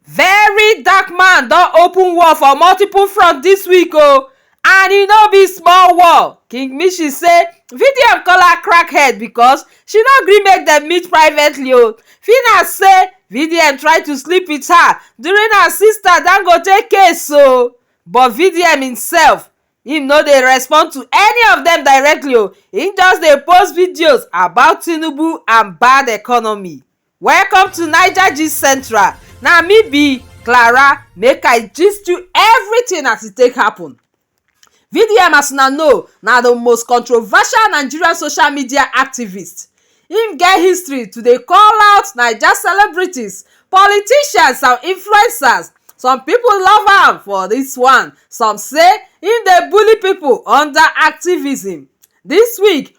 Very dark man don open war for multiple front this week o and e no be small war. King Mishi say VDM call her crack head because she no gree make dem meet privately o. Fina say VDM try to sleep with her during her sister Dangote case o but VDM himself him no dey respond to any of dem directly o, him just dey post videos about Tinubu and bad economy. Welcome to Naija Gist Central. Na me be Clara make I gist you everything as e take happen. VDM as una know na the most controversial Nigerian social media activist. Im get history to dey call out Naija celebrities, politicians and influencers. Some people love am for this one, some say im dey bully people under activism. This week,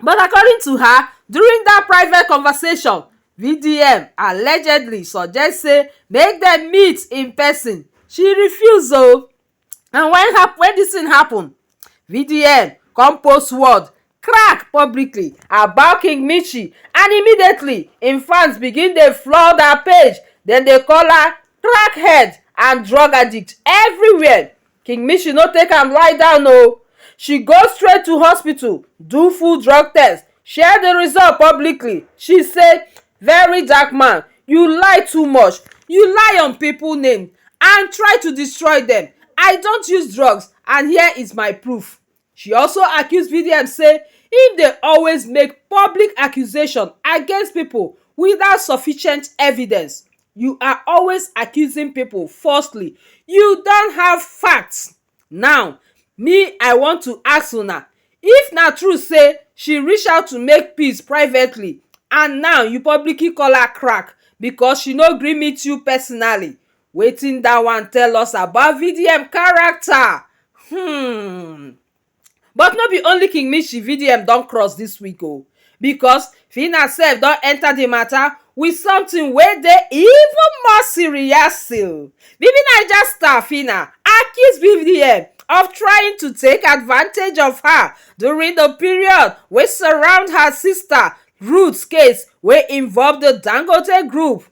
but according to her during dat private conversation vdm allegedly suggest say make dem meet in pesin she refuse o and wen hap wen dis tin happun vdm come post word crack publicly about king michie and immediately im fans begin dey flood her page dem dey call her crackhead and drug addict everywhere Kingmishi no take am lie down o, she go straight to hospital do full drug test, share di result publicly, she say Very dark man, you lie too much, you lie on pipo name and try to destroy dem, I don't use drugs and here is my proof. She also accuse VDM say im dey always make public accusation against pipo without sufficient evidence, you are always accusing pipo falsely, you don't have facts, now me I want to ask una if na true say she reach out to make peace privately and now you publicly call her crack because she no gree meet you personally, Wetin that one tell us about VDM character? Hmm but no be only King Mishi VDM don cross this week o because Phyna sef don enter the matter with something wey dey even more serious o. Bibi Naija star Phyna accuse VDM of trying to take advantage of her during the period wey surround her sister Ruth case wey involve the Dangote group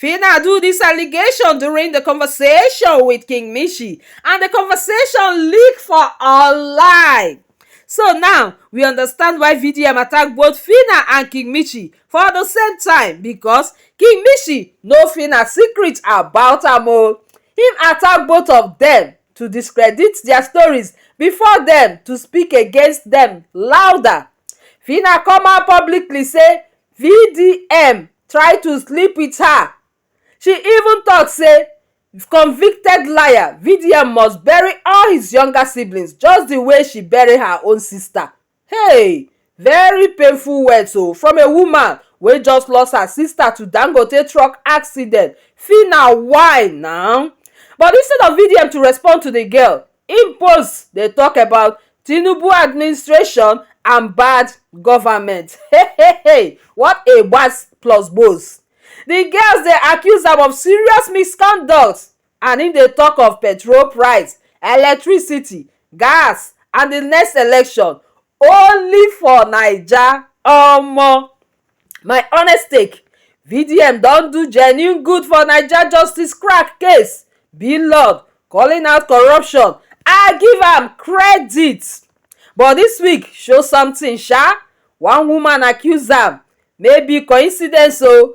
Phyna do dis allegation during di conversation wit King Mishi and di conversation leak for online. So now, we understand why VDM attack both Phyna and King Mishi for di same time because King Mishi know Phyna secret about am o. Him attack both of dem to discredit dia stories before dem to speak against dem louder. Phyna come out publicly say vdm try to sleep wit her she even tok say convicted liar vdm must bury all his younger siblings just di way she bury her own sister hey very painful words oh from a woman wey just lost her sister to dangote truck accident phyna why na but instead of vdm to respond to di girl im post dey tok about tinubu administration and bad govament hey what a gbas plus gbos di girls dey accuse am of serious misconduct and im dey tok of petrol price, electricity, gas and di next election Only for naija omo my honest take VDM don do genuine good for naija justice crack case Blord calling out corruption I give am credit but dis week show something sha one woman accuse am maybe coincidence oo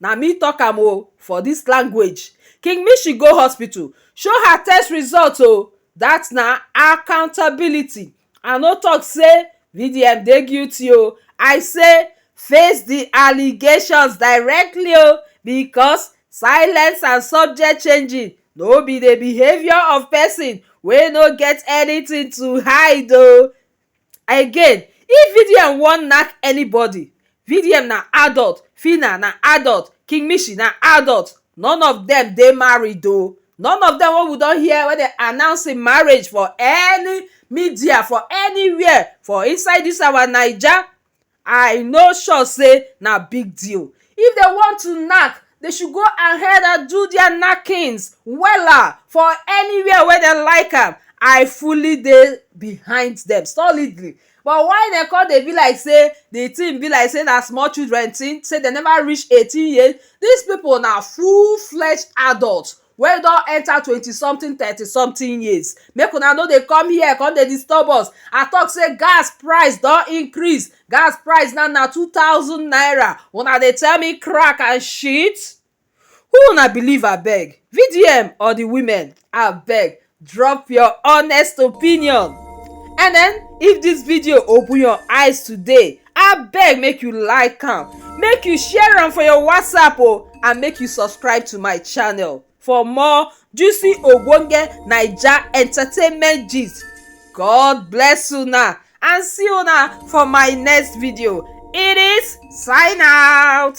Na me talk am o for this language King Mishi go hospital show her test result o that na accountability I no talk say VDM dey guilty o I say face the allegations directly o because silence and subject changing no be the behaviour of person wey no get anything to hide o Again if VDM wan nack anybody VDM na adult, Phyna na adult, King Mishi na adult none of dem dey married o none of dem wey we don hear wey dem announce im marriage for any media for anywhere for inside dis our naija I no sure sey na big deal if dem want to knack dey should go ahead and do their knackings wella for anywhere wey dem like am I fully dey behind dem solidly but why dem come dey be like sey the thing be like sey na small children thing sey dem never reach eighteen years dis people na full fledged adult wey e don enter twenty something thirty something years make una no dey come here come dey disturb us I talk say gas price don increase gas price now na two thousand naira una dey tell me crack and shit who una believe abeg VDM or the women abeg Drop your honest opinion and then if this video open your eyes today abeg make you like am make you share am for your whatsapp o oh, and make you subscribe to my channel for more juicy ogbonge naija entertainment gist god bless una and see una for my next video it is sign out.